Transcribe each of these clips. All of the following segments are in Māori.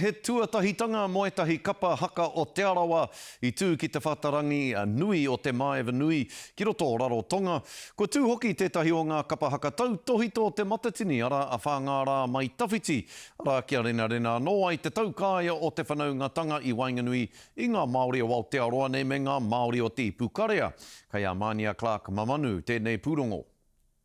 He tuatahitanga mō ētahi kapa haka o Te Arawa i tū ki te whatarangi nui o Te Maeva Nui ki roto o Rarotonga. Kua tū hoki tētahi o ngā kapa haka tautōhito o Te Matatini, arā, a Whāngārā Mai Tawhiti, arā, kia renarena anō ai te taukaea o te whanaungatanga i waenganui i ngā Māori o Aotearoa nei me ngā Māori o Te Ipukarea. Kei a Mānia Clark Mamanu tēnei pūrongo.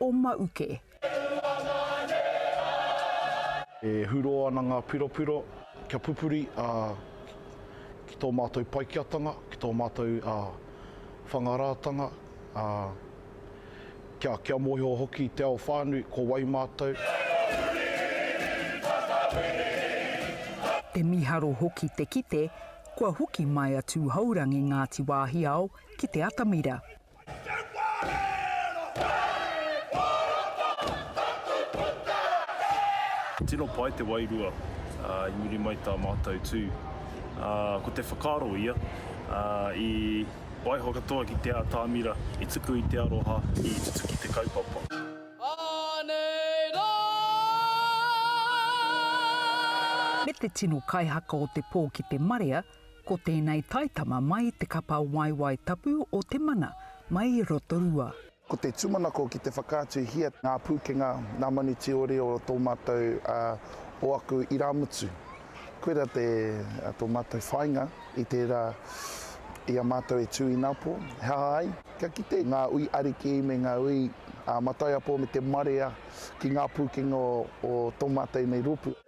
o Mauke. E hurō ana ngā piropiro kia pupuri ki tō mātou Paikeatanga, ki tō mātou Whangarātanga, kia mōhio hoki i te ao whānui ko wai mātou. He mīharo hoki te kite kua hoki mai a Tūhourangi Ngāti Wāhiao ki te atamira. Tino pai te wairua i muri mai tā mātou tū. Ko te whakaaro ia, i waiho katoa ki te ātamira, i tuku i te aroha, i tutuki te kaupapa. Anei rā! Me te tino kaihaka o te pō ki te marea, Ko tēnei taitama mai te kapa waewae tapu o te mana mai i Rotorua. Ko te tūmanako ki te whakaatuhia ngā pūkenga, ngā manuti ōrī o tō mātou, o aku irāmutu. Koira te, tō mātou whāinga i tērā i a mātou e tū inapo, he aha ai, kia kite ngā ui ariki me ngā ui mataiapo me te marea ki ngā pūkenga o tō mātou nei rōpū.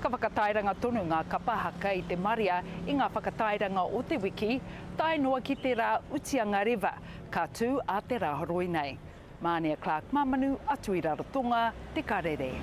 Ka whakatairanga tonu ngā kapa haka i te marea i ngā whakatairanga o te wiki, tae noa ki te rā utianga rewa, ka tū a te rā horoi nei. Mānia Clark Mamanu atu i Rarotonga, Te Karere.